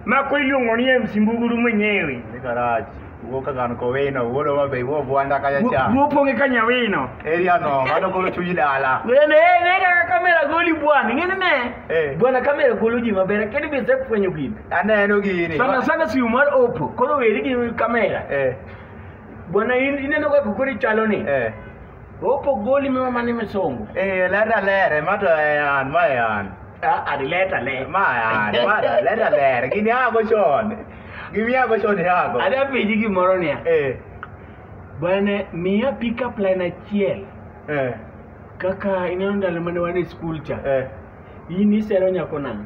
mako iluongo ni MC Mbuguru mwenyewe Ni garage. Ugo kagan ko weno, ugo wa be wo bwanda kaya cha. wopong'e ka nyawino Area no, mano golo chuji dala. Wende, eh, ne kaka kamera goli bwana ing'eni ne Eh. bwana kamera golo ji maber kendo be isefwenyo gini Aneno gini. sana sana simu mar opo koro weri gi kamera Eh, bwana in- ineno kaka koro ichalo ni eh. Opo goli mima mani misongo. Eh, leta lere, mato ean, ma ean. Ah, adi leta le. Ma ean, ma da, leta lere. Gini hago chon. Gimi hago chon hago. Adi apiji gimoro niya. Eh, Bwana miya pick up line achiel. eh, Kaka ineno ndalo mane wan e skul cha. eh. In isero nyako nang'.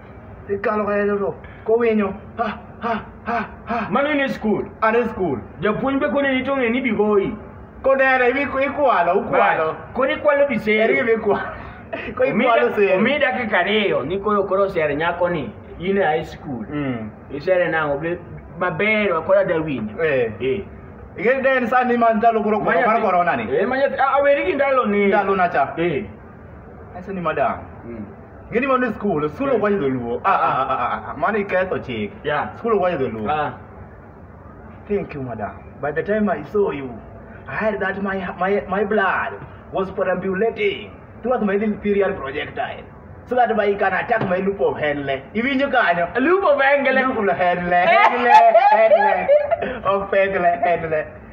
Ikalo kaya joto. Kowinyo. Ha ha ha ha. Mano in e skul. An e skul. Japuonj be kone ni tong'e ni bigoyi. Kodere ibi ikwalo ukwalo. Koni kwalo bisere. Eri ibi kwalo. Ko ikwalo sere. Omi dakika ariyo ni koro koro sere nyako ni. In e high school. Mm. Isere nango be maber wakola da winjo. Eh. Eh. Igende sani man dalo kuro kuro mar corona ni. Eh, manya aweri gi ndalo ni. Ndalo na cha. Eh. Acha ni madam. Mm. Ngini mano skul, skul ok wayudo luo. Ah ah ah, ah ah, mano iketho chik. Yeah. Skul ok wayudo luo. Ah. Thank you madam. By the time I saw you, I had that my my my blood was perambulating throughout my little period projectile. So that by you can attack my loop of Henle. Iwinjo kanyo. Lupo bengele. Loop of Henle, Henle, Henle. Of Henle, Henle.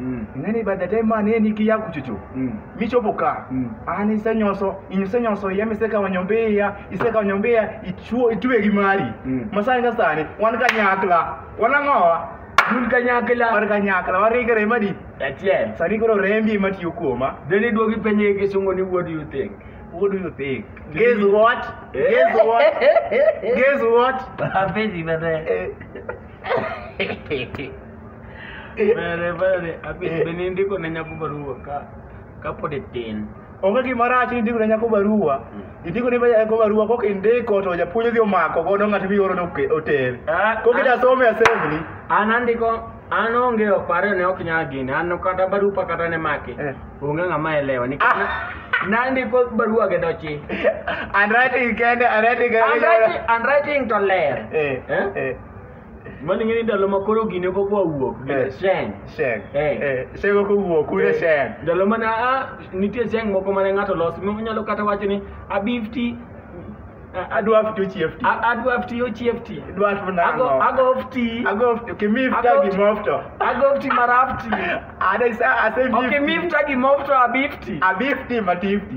Mm. ing'eni by the time ma ne niki ya kuchuchu Mm. michopo ka Mm. an isenyoso isenyoso iya misekawo nyombe iya isekawo nyombe iya ichuo itwe gi mari Mm. masani ka sani wan kanyakla wan ang'owa Un kanyakla. wan kanyakla warikre madi Achiel. sani koro rembi ema tiyo kuoma Then iduogi penye gi sungo ni what do you think? what do you think guess what guess what guess what Hapenzi baadaye. Eh. Vale, vale. Abi, Eh. bende indiko ne nyako barua ka kapod itin. onge gima rach ni indiko ne nyako barua indiko ne nyako barua kok indiko to japuonj odhi omako godo ng'at mioro oter Ah, kok ah. ida some assembly An andiko an onge oparo ne ok nyal gini an kata barupa kata ne maki Eh. onge ng'ama elewa nikech Ah. na- nandiko barua gi dochi and writing kende and writing I'm writing, I'm writing to ler Eh, Eh? eh. Mano ing'e ni ndalo ma koro gine kok wawuok Eh. gine sheng. Sheng. Eh. Eh, Sheng ok owuok, un e Eh, Sheng. Ndalo mana a nitie sheng moko mane ng'ato los monyalo kata wacho ni abifti Adwa ftu chief ti. adwa fti ochiefti. Dwa ftu Ago nang'o? ago fti. Ago ftu, kimi fta Ago gi ftu. mofto. Ago fti marafti. Ada isa ase Okay, mifti. mifta gi mofto abifti. Abi fti matifti.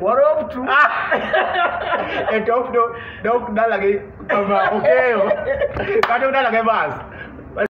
Warobtu. e to ok do- dok dalagi kama okeyo kata udalage bas